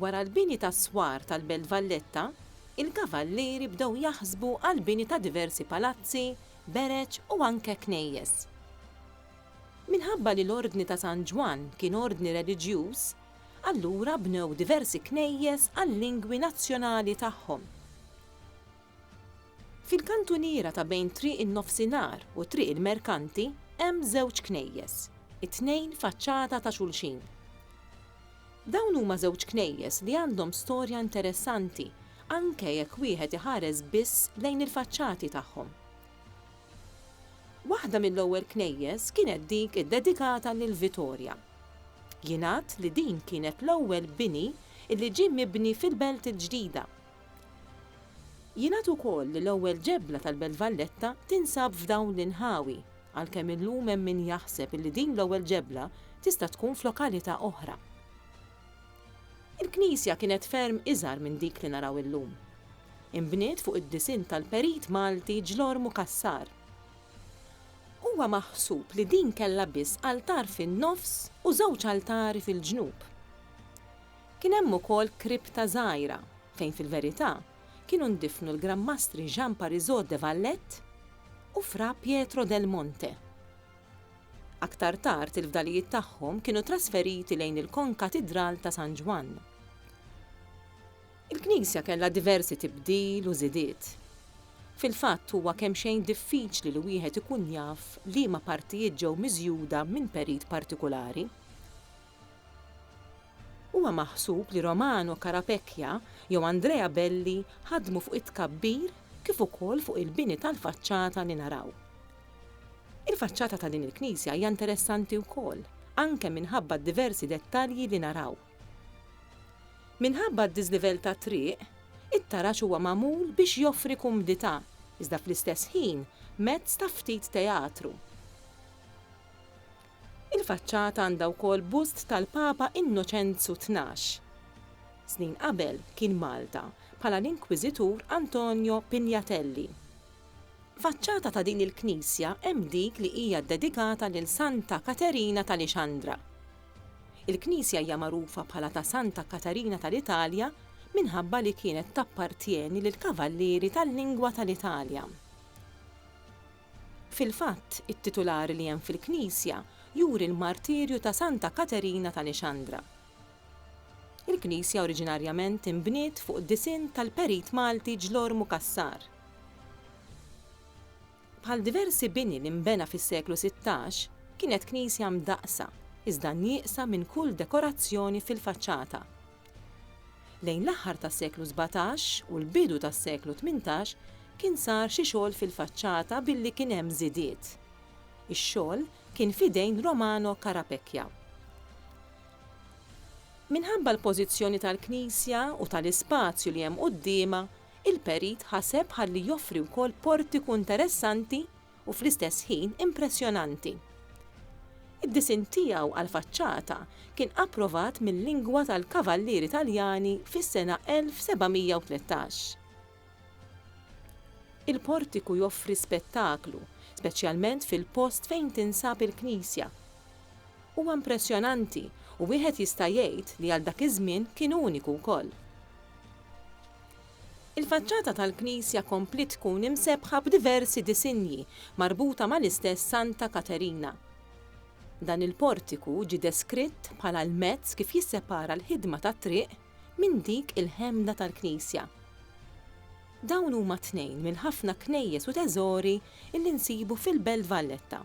Wara l-bini tas-swar tal-Belt Valletta, il-Kavallieri bdew jaħsbu għall-bini ta' diversi palazzi, bereġ u anke knejjes. Minħabba li l-Ordni ta' San Ġwann kien ordni reliġjuż, allura bnew diversi knejjes għal-lingwi nazzjonali tagħhom. Fil-kantuniera ta' bejn Triq in-Nofsinhar u Triq il-Merkanti hemm żewġ knejjes, it-tnejn faċċata ta' xulxin. Dawn huma żewġ knejjes li għandhom storja interessanti anke jekk wieħed iħares biss lejn il-faċċati tagħhom. Waħda mill-ewwel knejjes kienet dik iddedikata lil Vitorja. Jingħad li din kienet l-ewwel bini li ġie mibni fil-Belt il-Ġdida. Jingħad ukoll li l-ewwel ġebla tal-Belt Valletta tinsab f'dawn l-inħawi, għalkemm illum hemm min jaħseb illi din l-ewwel ġebla tista' tkun f'lokalità oħra. Il-knisja kienet ferm iżgħar minn dik li naraw illum. Inbniet fuq id-disinn tal-perit Malti Ġlormu Cassar. Huwa maħsub li din kellha biss altar fin-nofs u żewġ altari fil-ġnub. Kien hemm ukoll kripta żgħira fejn fil-verità kienu ndifnu l-Gran Mastri Jean Parisot de Valette u Fra Pietro del Monte. Aktar tard il-fdalijiet tagħhom kienu trasferiti lejn il-Konkatidral ta' San Ġwann. Il-knisja kellha diversi tibdil u żidiet. Fil-fatt huwa kemxejn diffiċli li wieħed ikun jaf liema partijiet ġew miżjuda minn perit partikulari. Huwa maħsub li Romano Carapecchia jew Andrea Belli ħadmu fuq it-tkabbir kif ukoll fuq il-bini tal-faċċata li naraw. Il-faċċata ta' din il-knisja hija interessanti wkoll, anke minħabba d-diversi dettalji li naraw. Minħabba d-diżlivell tat-triq, it-taraġ huwa magħmul biex joffri kumdità, iżda fl-istess ħin mezz ta' ftit teatru. Il-faċċata għandha wkoll bust tal-Papa Innoċenzu Tnax. Snin qabel kien Malta, bħala l-Inkwiżitur Antonio Pignatelli. Faċċata ta' din il-knisja hemm dik li hija ddedikata lil Santa Katerina tal-Ixandra. Il-knisja hija magħrufa bħala ta' Santa Katarina tal-Italja minħabba li kienet tappartjeni lill-Kavallieri tal-Lingwa tal-Italja. Fil-fatt, it-titular li hemm fil-knisja juri l-martirju ta' Santa Katerina ta' Nixandra. Il-knisja oriġinarjament inbniet fuq disinn tal-perit Malti Ġlormu Cassar. Bħal diversi bini li nbena fis-seklu sittax, kienet knisja mdaqqsa, iżda nieqsa minn kull dekorazzjoni fil-faċċata. Lejn l-aħħar tas-seklu sbatax u l-bidu tas-seklu tmintax kien sar xi xogħol fil-faċċata billi kien hemm żidiet. Ix-xogħol kien f'idejn Romano Carapecchia. Minħabba l-pożizzjoni tal-knisja u tal-ispazju li hemm quddiemha, il-perit ħaseb ħalli joffri wkoll portiku interessanti u fl-istess ħin impressjonanti. Id-disinn tiegħu għall-faċċata kien approvat mil-lingwa tal-Kavallieri Taljani fis-sena 1713. Il-portiku joffri spettaklu, speċjalment fil-post fejn tinsab il-knisja. Huwa impressjonanti u wieħed jista' jgħid li għal dak iż-żmien kien uniku wkoll. Il-faċċata tal-knisja kompliet tkun imsebbħa b'diversi disinji marbuta mal-istess Santa Katerina. Dan il-portiku ġie deskritt bħala l-mezz kif jissepara l-ħidma tat-triq minn dik il-ħemda tal-knisja. Dawn huma tnejn mill-ħafna knejjes u teżori li nsibu fil-Belt Valletta.